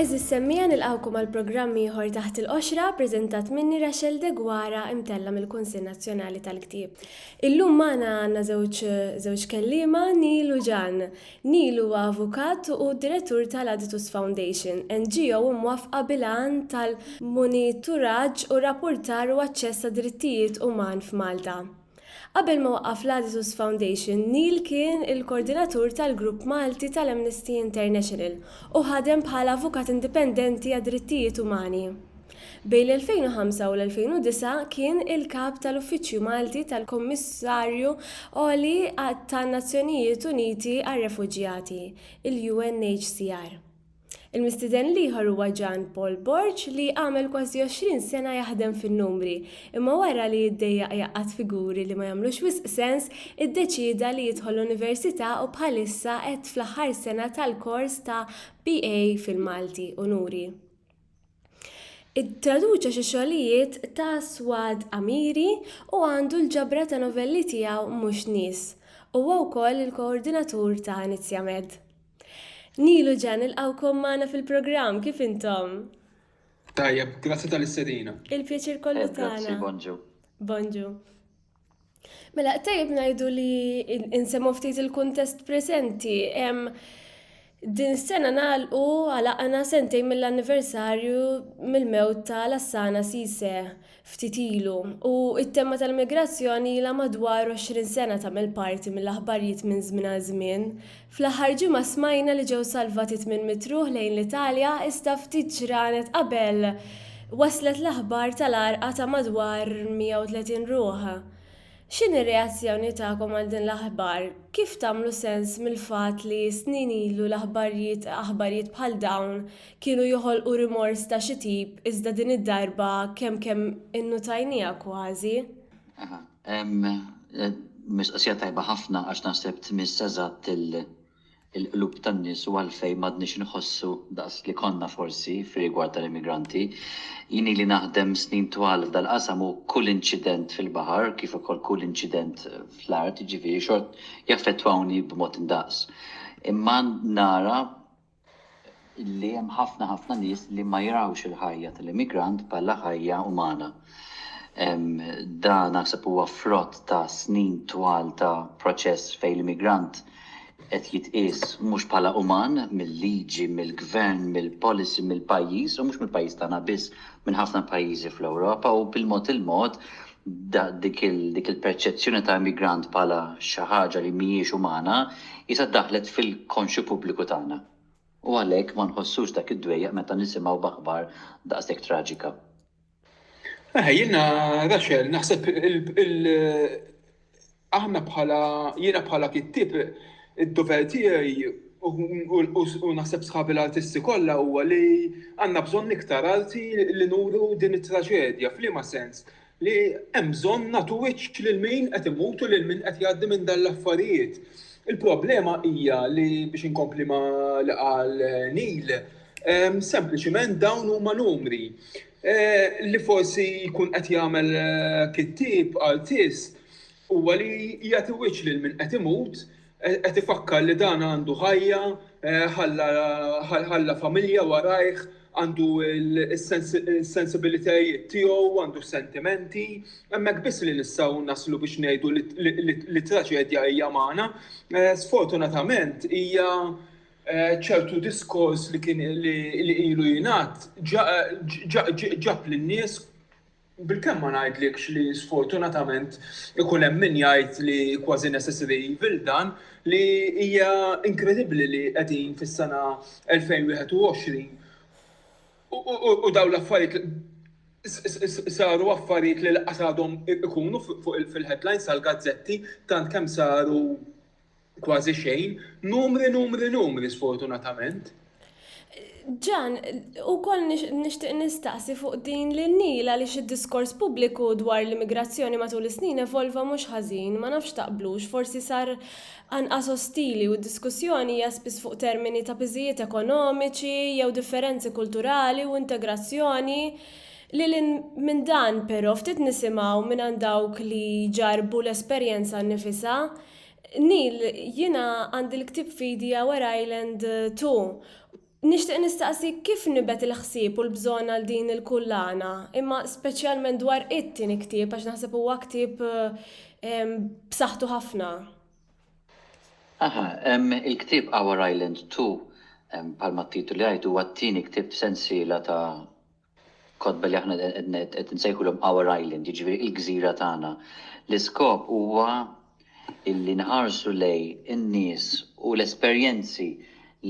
Eżis semmija nilqawkom għal programm ieħor taħt il-qoxra preżentat minni Rachel Degwara imtella mill-Kunsill Nazzjonali tal-Ktieb. Illum magħna għandna żewġ żewġ kelliema, Neil u Jan. Neil huwa avukat u direttur tal-Aditus Foundation, NGO mwaffqa bil-għan tal-monituraġġ u rappurtar u aċċess għad-drittijiet uman f'Malta. Qabel ma waqqaf l-Aditus Foundation, Neil kien il-kordinatur tal-grupp Malti tal-Amnesty International u ħadem bħala avukat indipendenti għad-drittijiet umani. Bejn l-2005 u l-2009 kien il-Kap tal-Uffiċċju Malti tal-Kummissarju Għoli tan-Nazzjonijiet Uniti għar-Refuġjati, il-UNHCR. Il-mistieden l-ieħor huwa Jean Paul Borg li għamel kważi 20 sena jaħdem fin-numri, imma wara li ddejjaq jgħaqqad figuri li ma jagħmlux wisq sens, iddeċieda li jidħol l-Università u bħalissa qed fl-aħħar sena tal-kors ta' BA fil-Malti, Unuri. Ittraduċa xi xogħlijiet ta' Souad Amiri u għandu l-ġabra ta' novelli tiegħu Mhux Nies. Huwa wkoll il-koordinatur ta' Iniziamed. Neil u Jan nilqgħukom magħna fil-programm, kif intom? Tajjeb, grazzi tal-istedina. Il-pjaċir kollu tagħna. Grazzi, bonġu. Bonġu. Mela, tajjeb ngħidu li insemmu ftit il-kuntest preżenti. Din sena nagħlqu għalaqna sentejn mill-anniversarju mill-mewt ta' Lassana Sise ftit ilu u t-tema tal-migrazzjoni ilha madwar 20 sena tagħmel parti mill-aħbarijiet minn żmien għal żmien Fl-aħħar ġimgħa smajna li ġew salvati tmien mitruħ lejn l-Italja iżda ftit ġranet qabel waslet l-aħbar tal-għarqa ta' madwar 130 ruħ. X'inhi r-reazzjoni tagħkom għal din l-aħbar? Kif tagħmlu sens mill-fatt li snin ilu l-aħbarjiet aħbarijiet bħal dawn kienu joħolqu rimors ta' xi tip iżda din id-darba kemm kemm innutajniha kważi? Mistoqsija tajba ħafna għax naħseb tmiss eżatt il-qlub tan-nies u għalfejn m'għadniex inħossu daqs li konna forsi fir-rigward tal-immigranti. Jien ili naħdem snin twal f'dal-qasam u kull inċident fil-baħar kif ukoll kull inċident fl-art, jiġifieri xort jaffettwawni b'mod indaqs. Imma nara li hemm ħafna ħafna nies li ma jarawx il-ħajja tal-immigrant bħala ħajja umana. Dan naħseb huwa frott ta' snin twal ta' proċess fejn l-immigrant qed jitqies mhux bħala uman mill-liġi, mill-gvern, mill-policy, mill-pajjiż u mhux mill-pajjiż tagħna biss, minn ħafna pajjiżi fl-Ewropa u bil-mod il-mod dik il-perċezzjoni ta' immigrant bħala xi ħaġa li mhijiex umana qisha daħlet fil-konxju pubbliku tagħna u għalhekk ma nħossux dak id-dwejjaq meta nisimgħu b'aħbar daqshekk traġika. Eħe, jiena Rachel, naħseb Aħna bħala, jiena bħala kittieb id-dover tiegħi u naħseb sħabi l-artisti kollha huwa li għandna bżonn iktar arti li nuru din it-traġedja. F'liema sens? Li hemm bżonn nagħtu wiċċ lil min qed imut u lil min qed jgħaddi minn dan l-affarijiet. Il-problema hija li, biex inkompli ma' li qal Neil, sempliċiment dawn huma numri. Li forsi jkun qed jagħmel kittieb, artist, huwa li jagħti wiċċ lil min qed imut, qed ifakkar li dan għandu ħajja, ħalla familja warajh, għandu s-sensibilitajiet tiegħu, għandu s-sentimenti. Hemmhekk biss li nistgħu naslu biex ngħidu li t-traġedja hija magħna. Sfortunatament hija ċertu diskors li kien li ilu jingħad ġab lin-nies bil-kemm ma ngħidlikx li sfortunatament ikun hemm min jgħid li kważi necessary evil dan li hija inkredibbli li qegħdin fis-sena 2021 u dawn l-affarijiet saru affarijiet li lanqas għadhom ikunu fil-headlines tal-gazzetti tant kemm saru Kważi xejn, numri, numri, numri sfortunatament. Ġan, u koll nishtiq nistaqsi fuq din li nila li xid diskors pubbliku dwar l-immigrazzjoni matul is-snin evolva mhux ħażin, ma nafx taqblux, forsi sar anqas ostili u d-diskussjoni hija spiss fuq termini ta' piżijiet ekonomiċi jew differenzi kulturali u integrazzjoni. Lil hinn minn dan, però, ftit nisimgħu mingħand dawk li jġarrbu l-esperjenza nnifisha Neil, jiena għandi l-ktieb f'idi Our Island Too. Nixtieq nistaqsik kif nibgħet il-ħsieb u l-bżonn għal din il-kullana, imma speċjalment dwar it-tieni ktieb għax naħseb huwa ktieb b'saħħtu ħafna. Aha, il-ktieb Our Island Too, bħalma t-titoli jgħid, huwa t-tieni ktieb f'sensiela ta' kotba li aħna qed insejħulhom Our Island, jiġifieri il-gżira tagħna. L-iskop huwa illi nħarsu lejn in-nies u l-esperjenzi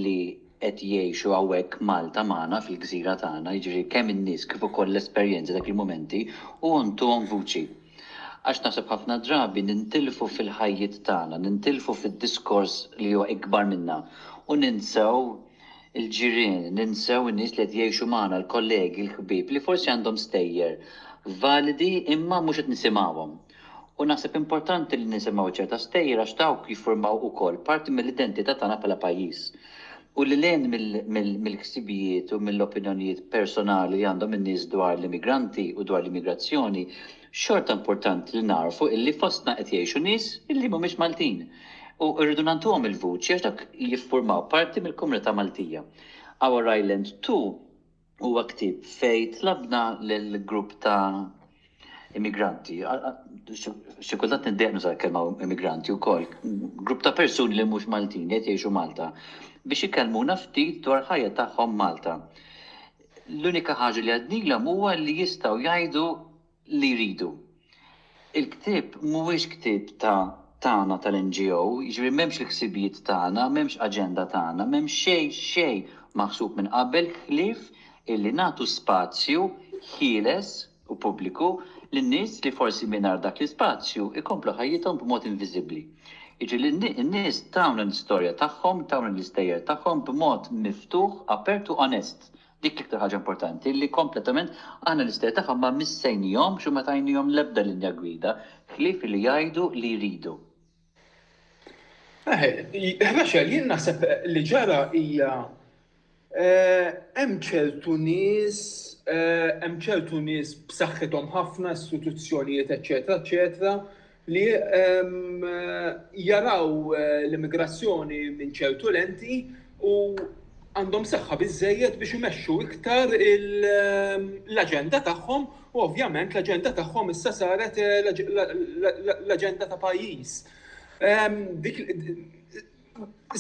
li qed jgħixu hawnhekk Malta magħna fil-gżira tagħna, jiġifieri kemm in-nies kif ukoll l-esperjenzi dak il-mumenti u ntuhom vuċi. Għax naħseb ħafna drabi nintilfu fil-ħajjiet tagħna, nintilfu fid-diskors li huwa ikbar minna u ninsew il-ġirien, ninsew in-nies li qed jgħixu magħna, l-kollegi, l-ħbieb li forsi għandhom stejjer validi imma mhux qed nisimgħuhom. U naħseb importanti li nisimgħu ċerta stejjer għax dawk jiffurmaw ukoll parti mill-identità tagħna bħala pajjiż. U lil hinn mill-ħsibijiet u mill-opinjonijiet personali li għandhom in-nies dwar l-immigranti u dwar l-immigrazzjoni, Xorta importanti li nagħrfu illi fostna qed jgħixu nies illi mhumiex Maltin u rridu nagħtuhom il-vuċi għax dawk jiffurmaw parti mill-komunità Maltija. Our Island Too huwa ktieb fejn tlabna lil grupp ta' immigranti, xi kultant niddejjaq nuża l-kelma immigranti wkoll, grupp ta' persuni li mhux Maltin li qed jgħixu Malta biex ikellmuna ftit dwar ħajja tagħhom Malta. L-unika ħaġa li għednilhom huwa li jistgħu jgħidu li jridu. Il-ktieb mhuwiex ktieb ta' tagħna tal-NGO, jiġifieri m'hemmx il-ħsibijiet tagħna, m'hemmx aġenda tagħna, m'hemm xejn, xejn maħsub minn qabel ħlief illi nagħtu spazju ħieles, u pubbliku lil nies li forsi mingħajr dak l-ispazju jkomplu ħajjithom b'mod inviżibbli. Jiġri li n-nies tawna l-istorja tagħhom, tawna l-istejjer tagħhom b'mod miftuħ, apert u onest. Dik l-iktar ħaġa importanti li kompletament aħna l-istejjer tagħhom ma missejnihomx u ma tajnihom l-ebda linja gwida ħlief li jgħidu li jridu. Rachel, jien naħseb li ġara hija hemm ċertu nies, hemm ċertu nies b'saħħithom ħafna, istituzzjonijiet eċċetera eċċetera li jaraw l-immigrazzjoni minn ċertu lenti u għandhom saħħa biżżejjed biex imexxu iktar l-aġenda tagħhom U ovvjament l-aġenda tagħhom issa saret l-aġenda ta' pajjiż.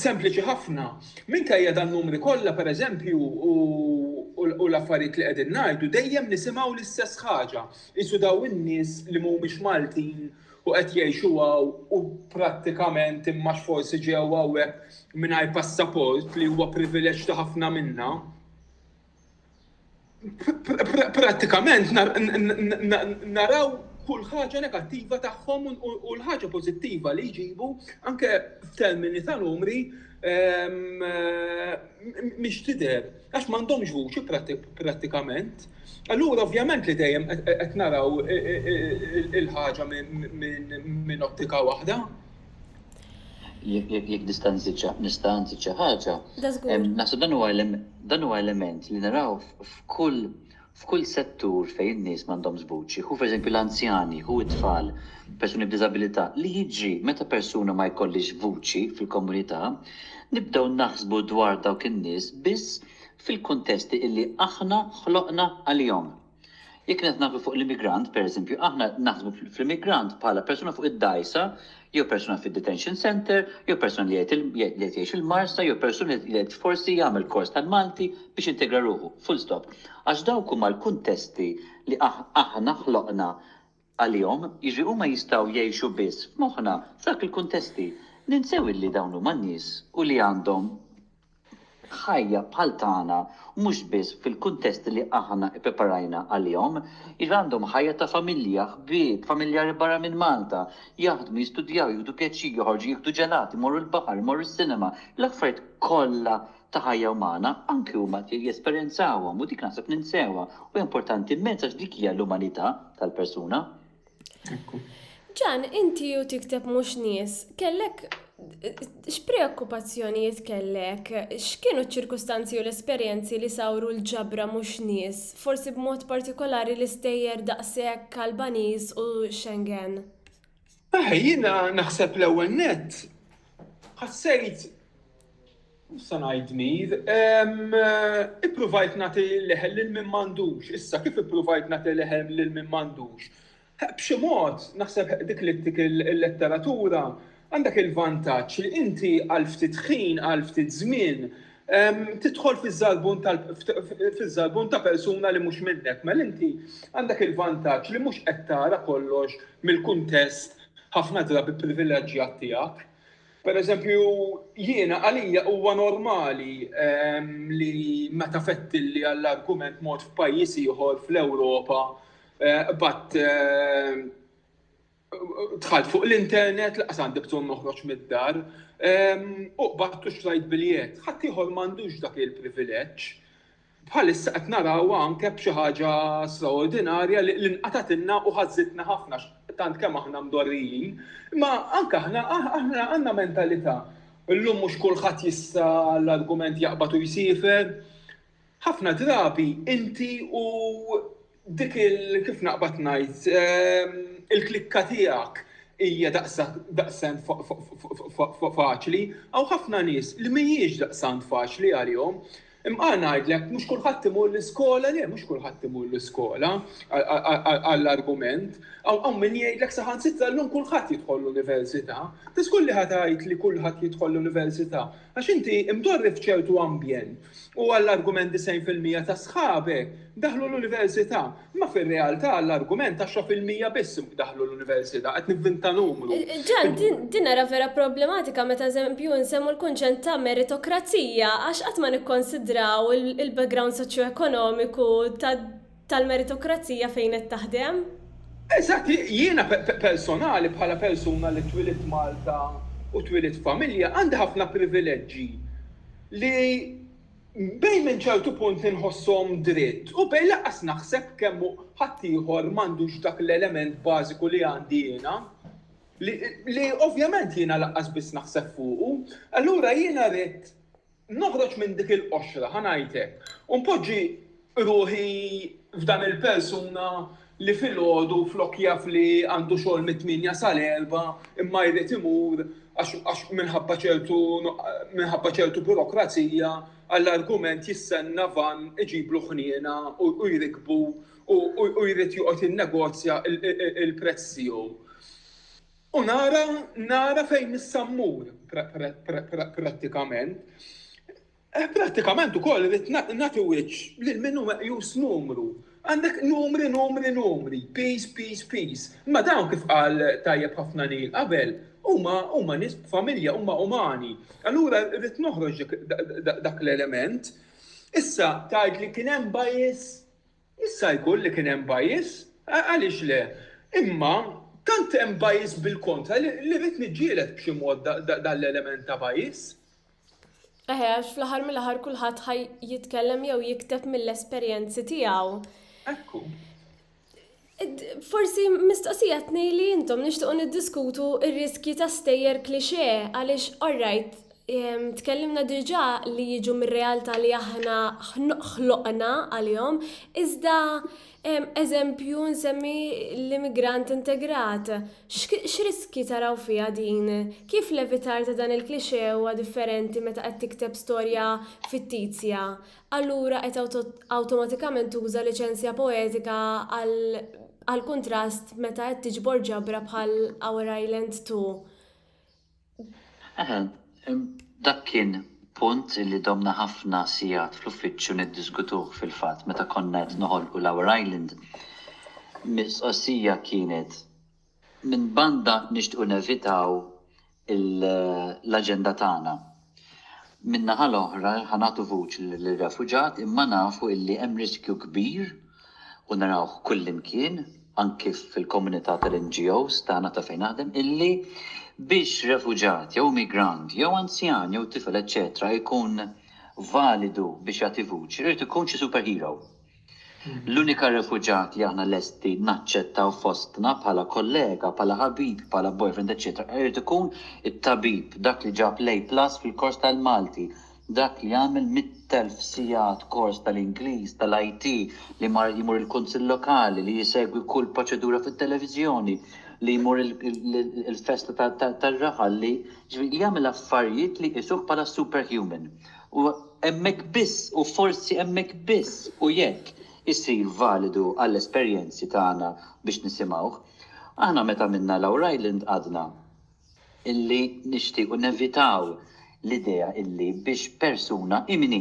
Sempliċi ħafna. Minkejja dan numri kollha pereżempju u l-affarijiet li qegħdin ngħidu dejjem nisimgħu l-istess ħaġa. Qisu daw in-nies li mhumiex Maltin u qed jgħixu hawn u prattikament imma x'forsi ġew hawnhekk mingħajr passaport li huwa privileġġ ta' ħafna minna. prattikament naraw kull ħaġa negattiva tagħhom u l-ħaġa pożittiva li jġibu anke f'termini ta' numri ehm, mhix tidher għax m'għandhomx vuċi prattikament. Allura ovvjament li dejjem qed naraw il-ħaġa minn ottika waħda. Jekk nista' nżid xi nista' nżid xi ħaġa. Naħseb dan huwa dan huwa element li naraw f'kull f'kull settur fejn in-nies m'għandhomx vuċi. Hu pereżempju l-anzjani, hu t-tfal, persuni b'diżabilità. Li jiġri meta persuna ma jkollhiex vuċi fil-komunità, nibdew naħsbu dwar dawk in-nies biss fil-kuntesti illi aħna ħloqna għalihom. Jekk qed naħdmu fuq l-immigrant, pereżempju, aħna naħsbu fl-immigrant bħala persuna fuq id-dgħajsa, jew persuna fid-detention centre, jew persuna li qed jgħix il-marsa, jew persuna li qed forsi jagħmel kors tal-Malti biex jintegra ruħu. Full stop. Għax dawk huma l-kuntesti li aħna ħloqna għalihom, jiġri huma jistgħu jgħixu biss f'moħħna f'dawk il-kuntesti. Ninsew illi dawn huma nies u li għandhom ħajja bħal tagħna mhux biss fil-kuntesti li aħna ippreparajna għalihom. Jiġri għandhom ħajja ta' familja, ħbieb, familjari barra minn Malta, jaħdmu, jistudjaw, jieħdu pjaċir, joħorġu jieħdu ġelat, imorru l-baħar, imorru s-sinema, l-affarijiet kollha ta' ħajja umana, anki huma jesperjenzawhom u dik naħseb ninsewha u hija importanti immens għax dik hija l-umanità tal-persuna. Ekku. Ġan, inti u tikteb mhux nies, kellek x'preokkupazzjonijiet kellek? X'kienu ċ-ċirkustanzi u l-esperjenzi li sawru l-ġabra mhux nies, forsi b'mod partikolari l-istejjer daqshekk Albaniż u Schengen? Aha, jiena naħseb l-ewwel nett ħassejt Issa ngħid mir, ippruvajt nagħti leħel lil min m'għandux. Issa kif ippruvajt nagħti leħel lil min m'għandux? B'xi mod, naħseb dik li dik il-letteratura għandek il-vantaġġ li inti għal ftit ħin, għal ftit żmien, tidħol fiż-żalbun ta' persuna li mhux minnek, mela inti għandek il-vantaġġ li mhux qed tara kollox mill-kuntest ħafna drabi privileġġjat tiegħek. Pereżempju, jiena għalija huwa normali li meta fettilli għall-argument mort f'pajjiż ieħor fl-Ewropa, qbadt dħalt fuq l-internet, laqas għandi bżonn noħroġ mid-dar, ehm, u qbattu xtrajt biljett. Ħadd ieħor m'għandux dak il-privileġġ. Bħalissa qed naraw anke b'xi ħaġa straordinarja li l-inqatatilna u ħażitna ħafna tant kemm aħna mdorrijin, ma anke aħna aħna għandna mentalità. Illum mhux kulħadd jista' l-argument jaqbad u jsifer, Ħafna drabi inti u dik il kif naqbad ngħid il-klikka tiegħek hija daqsant faċli. Hawn ħafna nies li mhijiex daqsant faċli għalihom. Imqar ngħidlek mhux kulħadd imur l-iskola, le mhux kulħadd imur l-iskola għall-argument. Hawn min jgħidlek saħansitra llum kulħadd jidħol l-università. Tiż tqulli ħa tgħidli kulħadd jidħol l-università. Għax inti imdorri f'ċertu ambjent u għall-argument 90 fil-mija ta' sħabek daħlu l-università. Imma fir-realtà għall-argument 10 fil-mija biss daħlu l-università, qed nivvinta numru. Ġan, din ara vera problematika meta eżempju nsemmu l-kunċent ta' meritokrazija għax qatt ma nikkonsidraw il-background soċjoekonomiku ta' tal-meritokrazija fejn qed taħdem? Eżatt, jiena personali bħala persuna li twilidt Malta u twilidt f'familja għandi ħafna privileġġi li bejn minn ċertu punt inħosshom dritt u bejn lanqas naħseb kemm hu ħaddieħor m'għandux dak l-element bażiku li għandi jiena li ovvjament jiena lanqas biss naħseb fuqu. Allura jiena ridt Noħroġ minn dik il-qoxra, ħa ngħid hekk, u npoġġi ruħi f'dan il-persuna li filgħodu flok jaf li għandu xogħol mit-tmienja sal-erbgħa imma jrid imur għax minħabba ċertu minħabba ċertu burokrazija għall-argument jistenna vann iġiblu ħniena u jrikbu u jrid joqgħod jinnegozja l-prezz tiegħu. U nara, nara fejn issa mmur prattikament. Eh, prattikament ukoll rrid nagħti wiċċ lil min hu meqjus numru. Għandek numri, numri, numri, peace, peace, peace. Ma dawn kif qal tajjeb ħafna nil qabel, huma huma nies familja, huma umani. Allura rrid noħroġ dak l-element. Issa tgħid li kien hemm bajis Jista' jkun li kien hemm bias, għaliex le, imma tant hemm bias bil-kontra li rrid niġġieled b'xi mod dan l-element ta' bias. Eħe, għax fl-aħħar mill-aħħar kulħadd ħa jitkellem jew jikteb mill-esperjenzi tiegħu. Ekku. Forsi mistoqsija tnejli intom nixtiequ niddiskutu r-riskji ta' stejjer klixe għaliex all right Tkellimna diġà li jiġu mir-realtà li aħna ħloqna għalihom, iżda eżempju nsemmi l-immigrant integrat. X'riskji taraw fiha din? Kif l-evitar ta' dan il-cliché huwa differenti meta qed tikteb storja fittizja? Allura qed awtomatikament tuża liċenzja poetika għall-kuntrast meta qed tiġbor ġabra bħal Our Island Too. Dak kien punt li domna ħafna sigħat fl-uffiċċju niddiskutuh fil-fatt meta konna qed noħolqu l-Our Island. Mistoqsija kienet, minn banda nixtiequ nevitaw l-aġenda tagħna Min-naħa l-oħra, ħa nagħtu vuċi lir-refuġat imma nafu illi hemm riskju kbir u narawh kullimkien, anki fil-komunità tal-NGOs tagħna ta' fejn naħdem, illi biex refuġat jew immigrant jew anzjan jew tifel eċċetera jkun validu biex jagħti vuċi, irid ikun xi superhero. L-unika refuġjat li aħna lesti naċċettaw fostna bħala kollega, bħala ħabib, bħala boyfriend eċċetera irid ikun it-tabib, dak li ġab l-A plus fil-kors tal-Malti, dak li għamel mitt elf sigħat kors tal-Ingliż, tal-IT, li jmur il-Kunsill Lokali, li jsegwi kull proċedura fit-televiżjoni, li jmur il-festa tar-raħal, li jagħmel affarijiet li jqisuh bħala superhuman. u hemmhekk biss, u forsi hemmhekk biss, u jekk, isir validu għall-esperjenzi tagħna biex nisimgħuh. Aħna meta għamilna l-Our Island għadna illi nixtiequ nevitaw l-idea illi biex persuna, imini,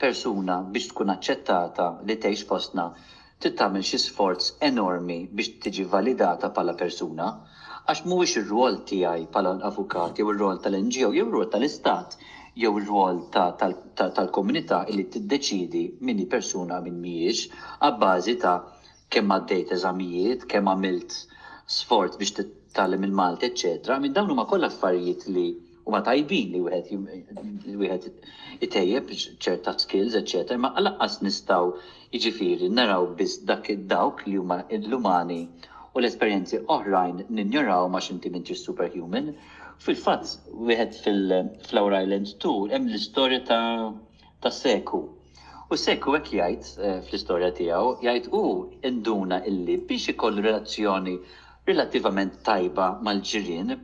persuna biex tkun aċċettata li tgħix fostna trid tagħmel xi sforz enormi biex tiġi validata bħala persuna, għax mhuwiex ir-rwol tiegħi bħala avukat jew ir-rwol tal-NGO jew ir-rwol tal-Istat jew ir-rwol ta' tal-komunità illi tiddeċiedi min hi persuna u min mhijiex abbażi ta' kemm għaddejt eżamijiet, kemm għamilt sforz biex titgħallem il-Malti eċċetera I mean dawn huma kollha affarijiet li huma tajbin li wieħed li wieħed itejjeb ċerta skills, eċċetera, ma laqqas nistgħu jiġifieri naraw biss dak dawk li huma l-umani u l-esperjenzi oħrajn ninjoraw għax inti m'intix superhuman. Fil-fatt, wieħed fil-Flower Island 2 hemm l-istorja ta' ta' Seku. U Seku hekk jgħid eh, fl-istorja tiegħu, jgħid hu induna illi biex ikollu relazzjoni relattivament tajba mal-ġirien,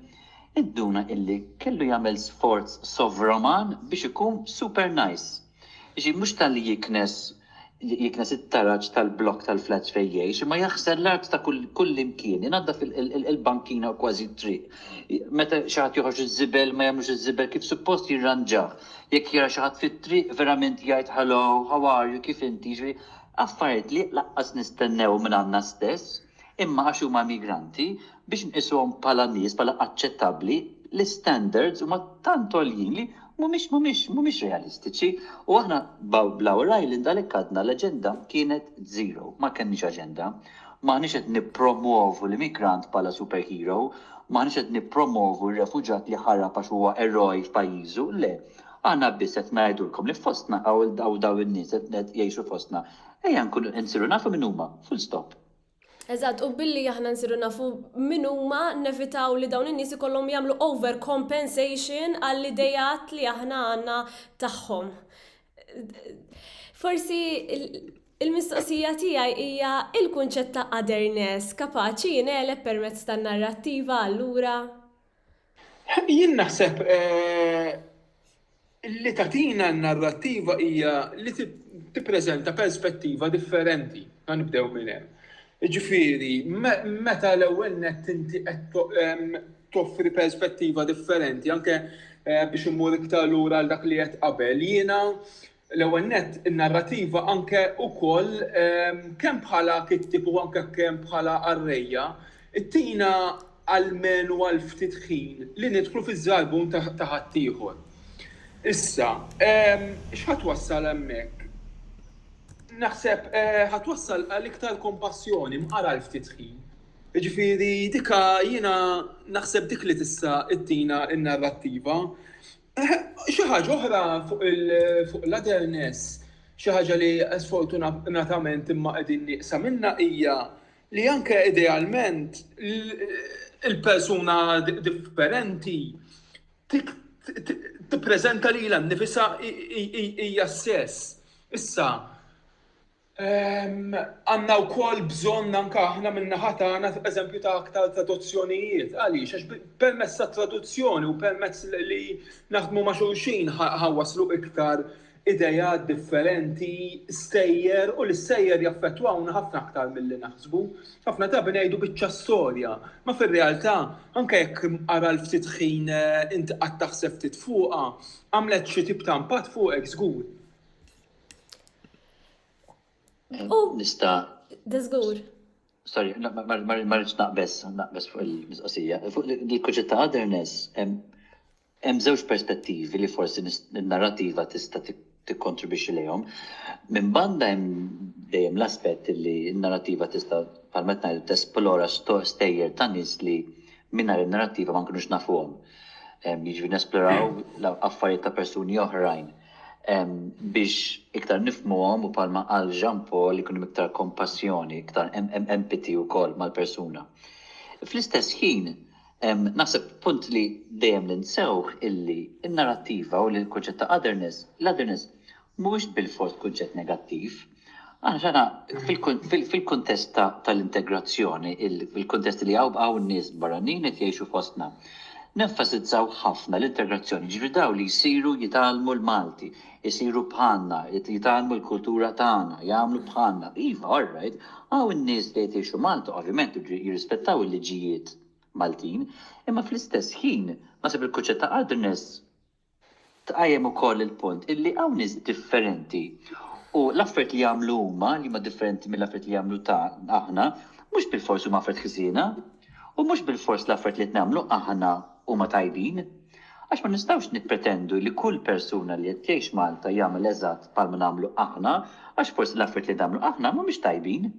Induna illi kellu jagħmel sforz sovruman biex ikun super nice. Jiġifieri mhux talli jiknes jiknes it-taraġ tal-blokk tal-flats fejn jgħix, imma jaħsel l-art ta' kull kullimkien, inaddaf il-bankina u kważi t-triq. Meta xi ħadd joħroġ iż-żibel ma jagħmlux iż-żibel kif suppost jirranġah. Jekk jara xi ħadd fit-triq verament jgħid hello, how are you, kif inti, jiġifieri affarijiet li lanqas nistennew minn għandna stess. imma għax huma migranti, biex nqisuhom bħala nies, bħala aċċettabbli, l-istandards huma tant għoljin li mhumiex, mhumiex, mhumiex realistiċi. U aħna bl-Our Island għalhekk għadna l-aġenda kienet zero. Ma kellniex aġenda. M'aħniex qed nippromwovu l-immigrant bħala superhero, m'aħniex qed nippromwovu r-refuġjat li ħarab għax huwa eroj f'pajjiżu, le. Aħna biss qed ngħidulkom li fostna hawn dawn in-nies qed jgħixu fostna. Ejja nkunu qed nsiru nafu min huma. Full stop. Eżatt, u billi aħna nsiru nafu min huma nevitaw li dawn in-nies ikollhom jagħmlu over compensation għall-ideat li aħna għandna tagħhom. Forsi l-mistoqsija tiegħi hija l-kunċett ta' otherness kapaċi jingħeleb permezz tan-narrattiva allura? Jien naħseb li tagħtina n-narrattiva hija li tippreżenta perspettiva differenti, ħa nibdew minn hemm. Jiġifieri meta l-ewwel nett inti qed toffri perspettiva differenti, anke biex immur iktar lura għal dak li għedt qabel, jiena L-ewwel nett, in-narrativa anke wkoll kemm bħala kittieb u anke kemm bħala qarrejja, ttina almenu għal ftit ħin li nidħlu fiż-żarbun ta' ħaddieħor. Issa, x'ħa twassal hemmhekk? Naħseb ħa twassal għal iktar kompassjoni mqara għal ftit ħin. Jiġifieri dik jiena naħseb dik li tista' ttina n-narrativa. Xi ħaġa oħra fuq l-otherness, xi ħaġa li sfortunatament imma qegħdin nieqsa minnha hija li anke idealment il-persuna differenti tippreżenta lilha nnifisha hija s-sess. Issa, Għandna wkoll bżonn anke aħna min-naħa tagħna eżempju ta' aktar traduzzjonijiet. Għaliex? Għax permezz tat-traduzzjoni u permezz li naħdmu ma' xulxin ħa waslu iktar ideat differenti, stejjer u l-istejjer jaffettwawna ħafna aktar milli naħsbu. Ħafna drabi ngħidu biċċa storja, ma fir-realtà anke jekk ara l-ftit ħin int qgħadt taħseb ftit fuqha, għamlet xi tip ta' impatt fuqek żgur. Oh. Nista. Dizgur. Sorry, marriċ naqbess, naqbess fuq il-mistoqsija. Fuq il-kuċet ta' otherness, hemm żewġ perspettivi li forsi n-narrativa tista' tikkontribwixxi lejhom. Minn banda hemm dejjem l-aspett li n-narrativa tista' palmet ngħid tesplora stejjer ta' nies li mingħajr in-narrativa ma nkunux nafuhom. Jiġri nesploraw affarijiet ta' persuni oħrajn Biex iktar nifhmuhom u bħalma qal Jean Paul ikun hemm iktar kompassjoni, iktar empathy wkoll mal-persuna. Fl-istess ħin naħseb punt li dejjem ninsewh illi n-narattiva u l-kunċett ta' otherness, l-otherness mhuwiex bilfors kunċett negattiv. Aħna fil-kuntest tal-integrazzjoni, fil-kuntest li hawn nies barranin qed jgħixu fostna, nenfasizzaw ħafna l-integrazzjoni, jiġifieri dawn li jsiru jitgħallmu l-Malti, isiru bħalna, jitgħallmu l-kultura tagħna, jagħmlu bħalna. Iva, all right, hawn nies li qed jgħixu Malta ovvjament iridu jirrispettaw il-liġijiet Maltin, imma fl-istess ħin, naħseb il-kunċett ta' otherness, Tqajjem ukoll il-punt illi hawn nies differenti u l-affarijiet li jagħmlu huma, li huma differenti mill-affarijiet li jagħmlu ta' aħna, mhux bilfors huma affarijiet ħżiena, u mhux bilfors l-affarijiet li qed nagħmlu aħna huma tajbin. Għax ma nistgħux nippretendu li kull persuna li qed jgħix Malta jagħmel eżatt bħalma nagħmlu aħna għax forsi l-affarijiet li nagħmlu aħna mhumiex tajbin.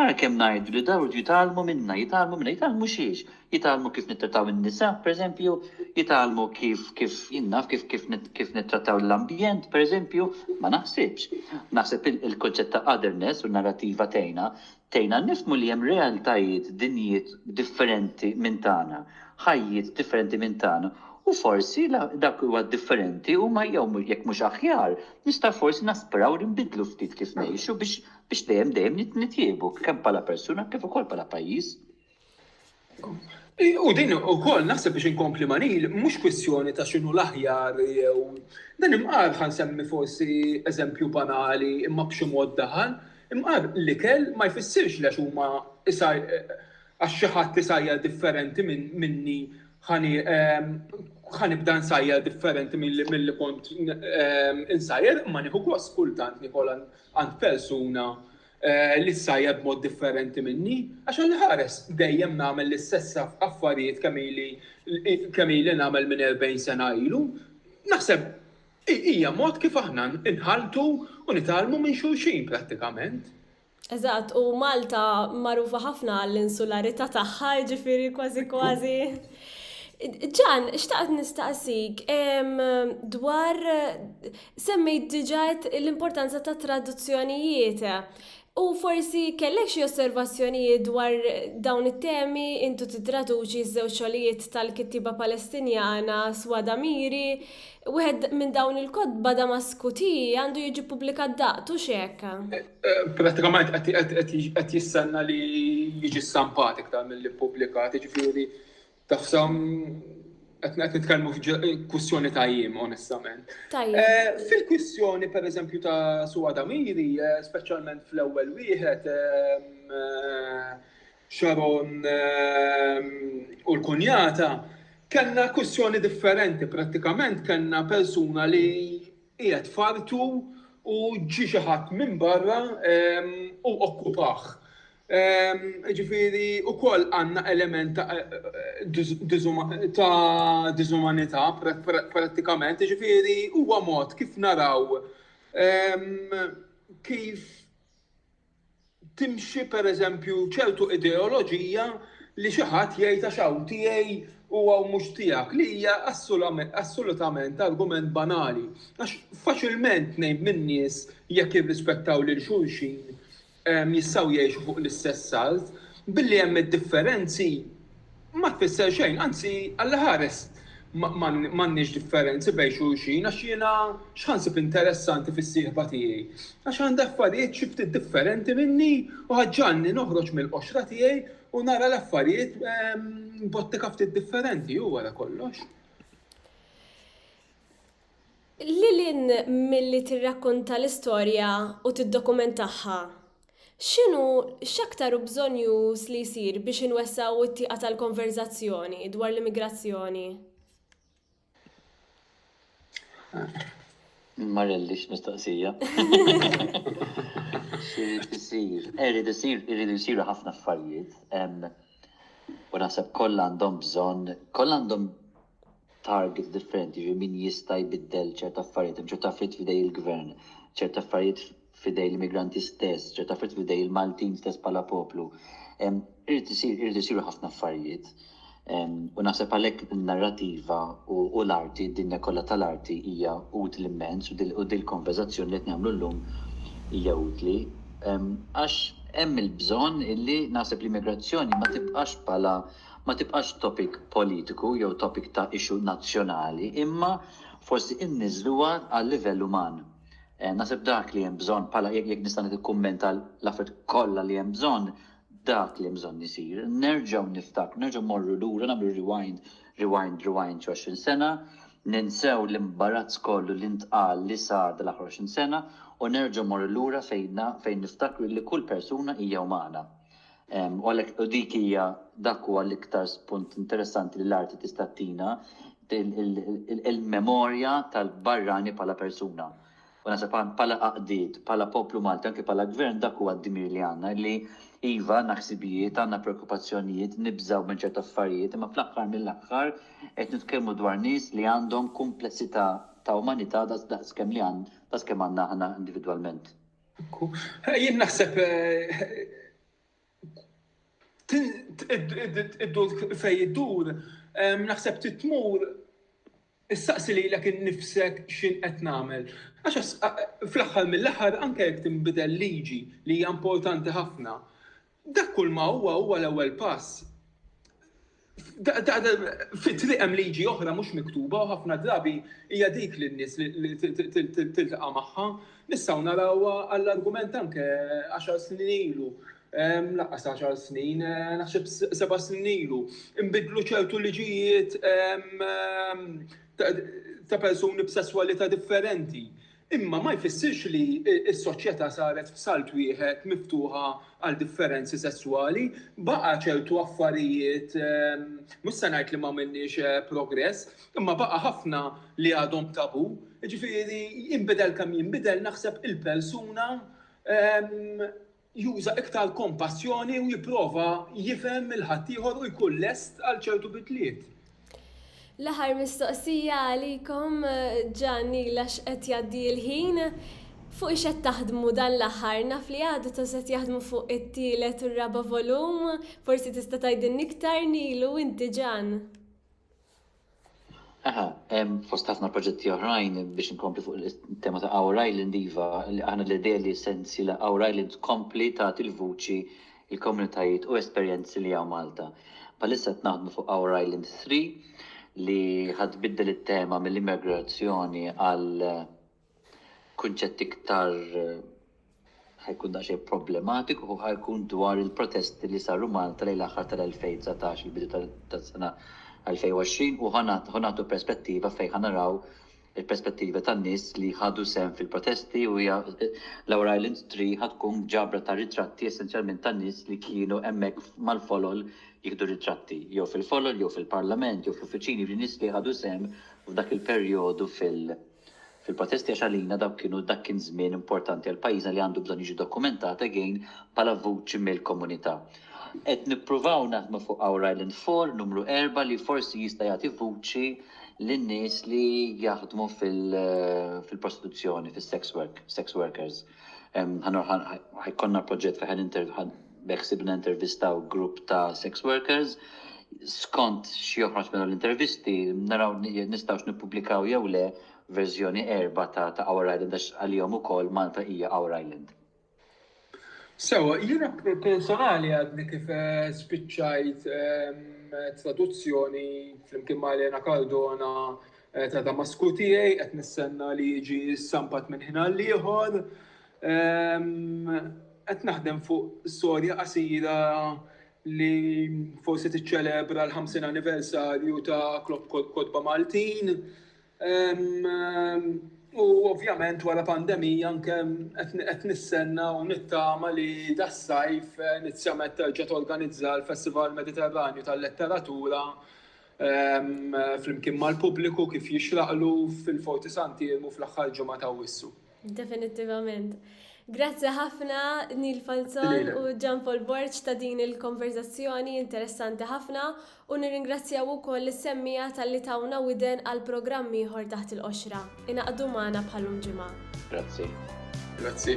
Ara kemm ngħidu li dawn iridu jitgħallmu minna, jitgħallmu minna, jitgħallmu xiex? Jitgħallmu kif nittrattaw in-nisa, pereżempju, jitgħallmu kif, kif, jien naf kif, kif, kif nittrattaw l-ambjent, pereżempju? Ma naħsibx. Naħseb il-kunċett ta' otherness u n-narrattiva tgħinna, tgħinna nifhmu li hemm realtajiet, dinjiet differenti minn tagħna, ħajjiet differenti minn tagħna, u forsi dak li huwa differenti huma jew jekk mhux aħjar, nistgħu forsi naspiraw li nbiddlu ftit kif ngħixu biex biex dejjem dejjem nitjiebu kemm bħala persuna kif ukoll bħala pajjiż. U din ukoll naħseb biex inkompli ma' Neil mhux kwistjoni ta' x'inhu l-aħjar jew dan imqar ħa nsemmi forsi eżempju banali imma b'xi mod daħal, imqar l-ikel ma jfissirx li għax huma għax xi ħadd isajjar differenti minni ħa nibda nsajjar differenti milli kont insajjar imma nieħu gost kultant niekolha għand persuna li ssajjar b'mod differenti minni, għax hu jħares, dejjem nagħmel l-istess affarijiet kemm ili kemm ili nagħmel minn erbgħin sena ilu. Naħseb hija mod kif aħna nħalltu u nitgħallmu minn xulxin prattikament. Eżatt, u Malta magħrufa ħafna għall-insularità tagħha, jiġifieri kważi kważi. Ġan, xtaqt nistaqsik dwar Semmejt diġà l-importanza tat-traduzzjonijiet. U forsi kellek xi osservazzjonijiet dwar dawn it-temi, intu tittraduċi ż-żewġ xogħlijiet tal-kittieba Palestinjana Swada Miri. Wieħed minn dawn il-kotba Damasku Tea għandu jiġi ppubblikat daqt, hux hekk? Prattikament qed jistenna li jiġi stampat iktar milli ppubblikat, jiġifieri Tafsa, qed nitkellmu f'kwistjoni ta' jiem, onestament. Eh, fil-kwistjoni, per eżempju, ta' Suwa Damiri, eh, speċjalment fl-ewwel wieħed, ehm, eh, Sharon ehm, u l-kunjata, kellna kwistjoni differenti, prattikament kellna persuna li qiegħed fartu u ġi xi ħadd minn barra ehm, u okkupah. Jiġifieri wkoll għandna element ta' diżumanità prattikament, jiġifieri huwa mod kif naraw kif timxi pereżempju ċertu ideoloġija li xi ħadd jgħid għax hawn tiegħi u hawn mhux tiegħek, li hija assolutament argument banali. Għax faċilment tnejn min-nies jekk jirrispettaw lil xulxin jistgħu jgħixu fuq l-istess salt, billi hemm id-differenzi ma tfisser xejn, anzi Alla ħares m'għandniex differenzi bejn xulxin għax jiena x'ħa nsib interessanti fis-sieħba tiegħi? Għax għandha affarijiet xi ftit differenti minni u ħa ġġagħalni noħroġ mill-qoxra tiegħi u nara l-affarijiet b'ottika ftit differenti, hu wara kollox. Lil hinn milli tirrakkonta l-istorja u tiddokumentaha, x'inhu x'aktar hu bżonjuż li jsir biex inwessgħu t-tieqa tal-konverżazzjoni dwar l-immigrazzjoni? Ma rridlix mistoqsija. X'irid isir? Irid isir, iridu jsiru ħafna affarijiet. U naħseb kollha għandhom bżonn, kollha għandhom targets differenti, jiġifieri min jista' jbiddel ċerti affarijiet, hemm ċerti affarijiet f'idejn il-gvern, ċerti affarijiet f'idejn l-immigranti stess, ċerti affarijiet f'idejn il-Maltin stess bħala poplu. Irid isir irid isiru ħafna affarijiet. U naħseb għalhekk in-narrativa u l-arti, d-dinja kollha tal-arti hija utli immens u dil konverzazzjoni li qed nagħmlu llum hija utli. Għax hemm il-bżonn illi naħseb l-immigrazzjoni ma tibqax bħala ma tibqax topic politiku jew topic ta' issue nazzjonali imma forsi inniżluha għal-livell uman. Naħseb dak li hemm bżonn bħala jekk jekk nista' nikkummenta l-affarijiet kollha li hemm bżonn, dak li hemm bżonn isir. Nerġgħu niftakru, nerġgħu mmorru lura, nagħmlu rewind, rewind, rewind xi għoxrin sena, ninsew l-imbarazz kollu li ntqal li sar dal-aħħar għoxrin sena u nerġgħu mmorru lura fejn fejn niftakru li kull persuna hija umana. U għalhekk u dik hija dak huwa l-iktar spunt interessanti li l-arti tista' ttina il-memorja tal-barrani bħala persuna. U naħseb bħala għaqdiet, bħala poplu Malti, anke bħala gvern dak huwa d-dmir li għandna li iva għandna ħsibijiet, għandna preokkupazzjonijiet, nibżgħu minn ċertu affarijiet, imma fl-aħħar mill-aħħar qed nitkellmu dwar nies li għandhom kumplessità ta' umanità daqs kemm li daqs kemm għandna aħna individwalment. Jien naħseb id-dur fejn iddur, naħseb trid tmur issaqsi lilek innifsek x'in qed nagħmel. Għax fl-aħħar mill-aħħar anke jekk tinbidel liġi li hija importanti ħafna, Dak kulma huwa huwa l-ewwel pass. Fit-triq hemm liġi oħra mhux miktuba u ħafna drabi hija dik li n-nies tiltaqa' magħha. Nistgħu narawha għall-argument anke għaxar snin ilu, lanqas għaxar snin, naħseb seba' snin ilu, inbidlu ċertu liġijiet ta' persuni b'sesswalità differenti. Imma ma jfissirx li s-soċjetà saret f'salt wieħed miftuħa għal differenzi sesswali. Baqa' ċertu affarijiet, mhux se ngħid li m'għamilniex progress, imma baqa' ħafna li għadhom tabù. Jiġifieri jinbidel kemm jinbidel naħseb il-persuna juża iktar kompassjoni u jipprova jifhem lil ħaddieħor u jkun lest għal ċertu bidliet. L-aħħar mistoqsija għalikom Ġanni għax qed jgħaddi l-ħin. Fuq ix qed taħdmu dan l-aħħar? Naf li għadu ta' set jaħdmu fuq it-tielet u r-raba' volum, forsi tista' tgħidilni iktar Nil u inti Ġann. Aha, fost ħafna proġetti oħrajn biex nkompli fuq il-tema ta' Our Island Iva, aħna l-idea li sensi la Our Island tkompli ta' il-vuċi il-komunitajiet u esperjenzi li għaw Malta. Palissa qed naħdmu fuq Our Island 3 li ħad biddel it-tema mill-immigrazzjoni għal Kunċett iktar ħa jkun daqsxejn problematiku ħa jkun dwar il-protesti li saru Malta lejn l-aħħar tal-2019, il-bidu tas-sena 2020 u ħa nagħtu perspettiva fejn ħa naraw il-perspettiva tan-nies li ħadu sehem fil-protesti u hija l-Our Island Tree ħa tkun ġabra ta' ritratti essenzjalment ta' nies li kienu hemmhekk mal-folol jieħdu ritratti jew fil-folol jew fil-Parlament jew fl-uffiċini, jiġifieri nies li ħadu sehem f'dak il-perjodu fil-protesti. Fil-protesti għax għalina dawk kienu dak kien żmien importanti għal pajjiżna li għandu bżonn jiġi dokumentat again bħala vuċi mill-komunità. Qed nippruvaw naħdmu fuq Our Island Four numru erba' li forsi jista' jagħti vuċi lin-nies li jaħdmu fil-prostituzzjoni, fis-sex work, sex workers. Ħa jkollna proġett fejn ħa Beħsiebna intervistaw grupp ta' sex workers. Skont x'joħroġ minn l-intervisti, naraw nistgħux nippubblikaw jew le verżjoni erbgħa ta' Our Island għax għalihom ukoll Malta hija Our Island. Sewwa, jiena personali għadni kif spiċċajt traduzzjoni flimkien ma' Elena Cardona ta' Damasku Tiegħi, qed nistenna li jiġi stampat minn ħin għal ieħor. Qed naħdem fuq storja qasira li forsi tiċċelebra l-50 anniversarju ta' Club Kotba Maltin. U ovvjament wara pandemija anke qed nistenna u nittama li das-sajf inizjament terġa' torganizza l-Festival Mediterranju tal-Letteratura flimkien mal-pubbliku kif jixraqlu fil-Forti Sant'Iermu fl-aħħar ġimgħa t'Awwissu. Definittivament. Grazzi ħafna Neil Falzon u Gian Paul Borg ta' din il-konverzazzjoni interessanti ħafna u nirringrazzjaw ukoll is-semmija tal-li tawna widen għal programm ieħor taħt il-qoxra. Inaqdu magħna bħalum ġimgħa. Grazzi. Grazzi.